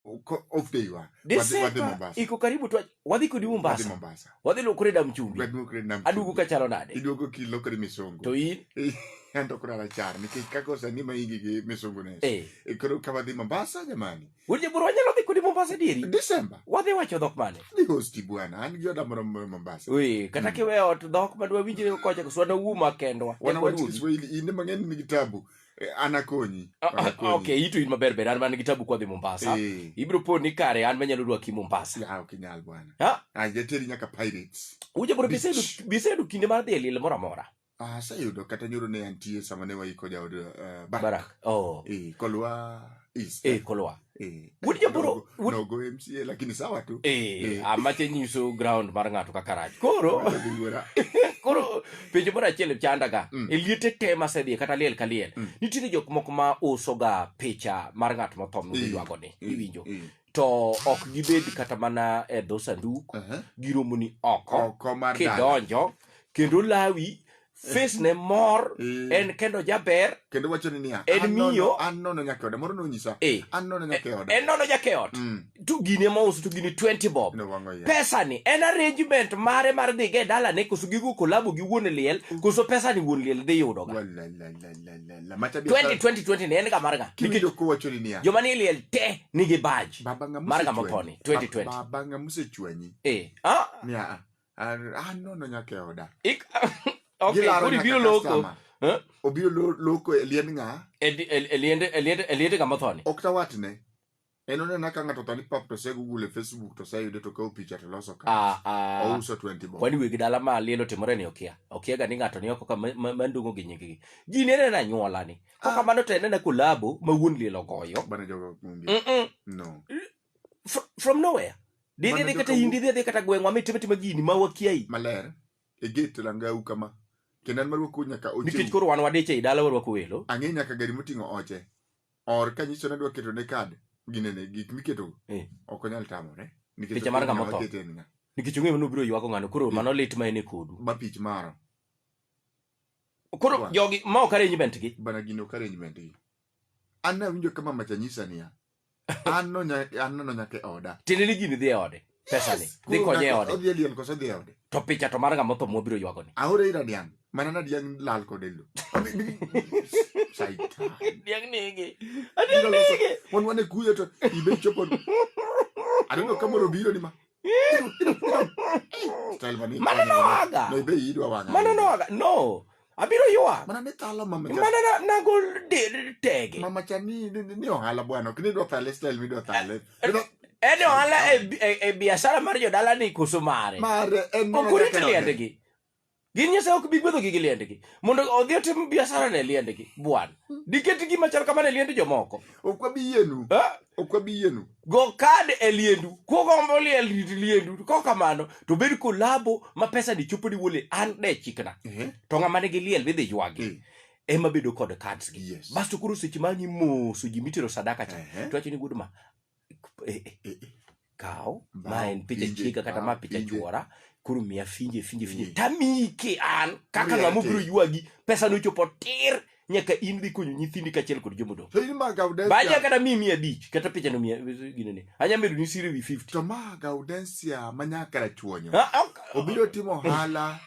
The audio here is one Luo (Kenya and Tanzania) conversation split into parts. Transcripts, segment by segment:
Uko off day wa. Wadhi- wadhi Desemba Mombasa. iko karibu tu, wadhi kodi Wadhi Mombasa, Mombasa. wadhi lokore dam chumbi, Wadhi kure nam aduogo chumbi. kachalo nade? Iduogo kilokore misongo. To in Anto kura rachar nikech kaka osani ma igi gi misongo ne. eh, E koro ka wadhi Mombasa jamani. wuod jaburu wanyalo dhi kodi Mombasa dieri, Desemba. wadhi wacho dhok mane? Ni hosti bwana. An gi oda moro moro Mombasa. Wee, kata Mm. kiwe ot dhok madwa winjre kocha kuswana uma kendwa. Wana Ekwa wach duogi. Kiswahili inde mang'eny nigi tabu. Eh, an akonyi Ah, ah, Anakonyi. ok itu in maber ber an man gi tabu kwadhi mombasa Eh. ibiro po ni kare an manyalo rwaki mombasa Ah, ok inyal bwana Ah, Ah, jateri nyaka pirates uja bro Beach. bisedu- bisedu kinde mar dhi e lil moro amora Ah, aseyudo kata nyoro ne antie sama ne waiko jaod uh, barak barak oh. eh, kolwa eh, kolowa eh, wuod jaboro nogo mca lakini sawa tu eh, eh. amache nyiso ground mar ng'ato kaka rach koro koro penjo moro achiel chandaga mm. e liete te masedhiye kata liel ka liel mm. nitiere jok moko ma usoga picha mar ng'at motho miywago ni iwinjo to ok gibed kata mana e dho sanduk Aha. giromoni oko Oko mar dala. kidonjo kendo lawi face ne mor Eh. en kendo jaber Kendo wacho ni niya. En "An nono- miyo." An nono nyaka oda. Moro nonyisa. Eh. An nono nyaka e oda. en nono jakeot Mm. to gini ma uso to gini 20 bob No wang'o yie. pesani en arrangement mare mar dhiga e dalane koso gigo kolabo gi wuon liel koso pesani wuon liel dhi yudoga Walalala. 2020 ne en ga marga joma ni liel te nigi baj marga moponi 2020 eh ah ya ah no no nyake oda ik okay kuri biro loko eh? obiro loko e liend nga e liend e liend e liend ga moponi ok tawatne En onena ka ng'ato thani pap to se Google e Facebook to se yude to kawo picha to loso ka. Ah, ah. Ouso 20 bob. Kwani wegi dala ma lielo timore ni okia. Okia ga ni ng'ato ni oko ka ma- ma- mandungo gi nyinggi. Ji ne nena nyuola ni. Kok Ah. kamano to enena kolabo ma wuon lielo goyo. Bana jogo onge. Mm-mm. No. Fr- From nowhere. Didhi Mana dhi kata joka- hindi dhi dhi kata gweng'wa mi time time gini ma wakiai. Maler. E gate langau kama. Kendo an maruoko nyaka Nikech oche. koro wan wadich ei dala warwako welo. Ang'e nyaka gari moting'o oche. or kanyiso nadwa keto ne kad ginene gik miketo Eh. ok onyal tamore nikech Picha mar ok ng'ama ong'eyo otho. akete en ng'a. nikech ong'eyo ni obiro ywago ng'ano koro mano lit ma en e kodu ma pich maro koro Wa. jogi ma ok arrangement gi bana gini ok arrangement gi an nawinjo kama macha nyisa niya an no nya- an nono nyaka e oda tiende ni gini dhi e ode pesani Yes, dhi koro konye e ng'ato ode odhi e liel koso odhi e ode to picha to mar ng'ama otho mwabiro ywagoni aore ira diang' mana na diang' lal kod e lo Shaitan. diang' nege Biro loso- wan wane kuyo to ibe chopo aneno ka moro biro ni ma Style mani- mano nowaga no ibe idwa wang'a mano nowaga no abiro ywak mana ni thalo mama mana na, nagol tege mama cha ni ni, ni ohala bwana ok ni dwa thale style midwa thale eh, eh, en ohala e, e, e biashara mar jodala ni koso mare mare en ok orit liendgi gin nyasaye ok bi gwedhogi gi liendgi mondo odhi otim biashara ne liendgi bwana hmm. diketgi machal kamano e liend jomoko ok wabi yienu eh? ok wabi yienu go kad e liendu kugombo liel rit liendu ko kamano to bed kolabo ma pesa ni chopo ni wole an de chikna Ehe. to ng'ama nigi liel bidhi ywagi Eh. ema bedo kod cards gi Yes. basto koro seche ma ang'i moso ji mitero sadaka cha Ehe. to wacho ni gudma eh, eh, Eh, eh. kaw Bao, ma en picha pinje, chiega kata bao, ma picha pinje. chuora koro miya finje finje finje Eh. tamike an kaka Miya ng'ama te. obiro ywagi pesa nochopo tir nyaka in dhi konyo nyithindi kachiel kod jomodong baja kata mi mia abich kata pichano mia ginene anya medo ni siri wi 50 to ma gaudensia ma nyaka rachuonyo ah, ah, ah. obiro timo hala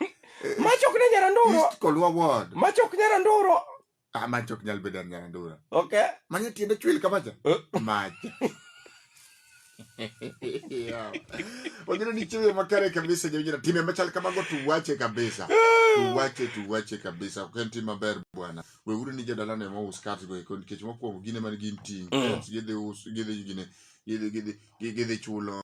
eh, machok ne nyara ndoro east kolwa ward machok nyara ndoro ah machok nyal bedo nyara ndoro okay manya tiende chwil kamacha eh. macha Wajira ni chuyo makare kabisa jawinjira time machal kamago tuwache kabisa. Tuwache tuwache kabisa. Ok en tim maber bwana. Weuru ni jodala ne mo us cards go eko nikech mokwongo gine man gin ting. Mm. Gidhi us gidhi gine gidhi gidhi gidhi chulo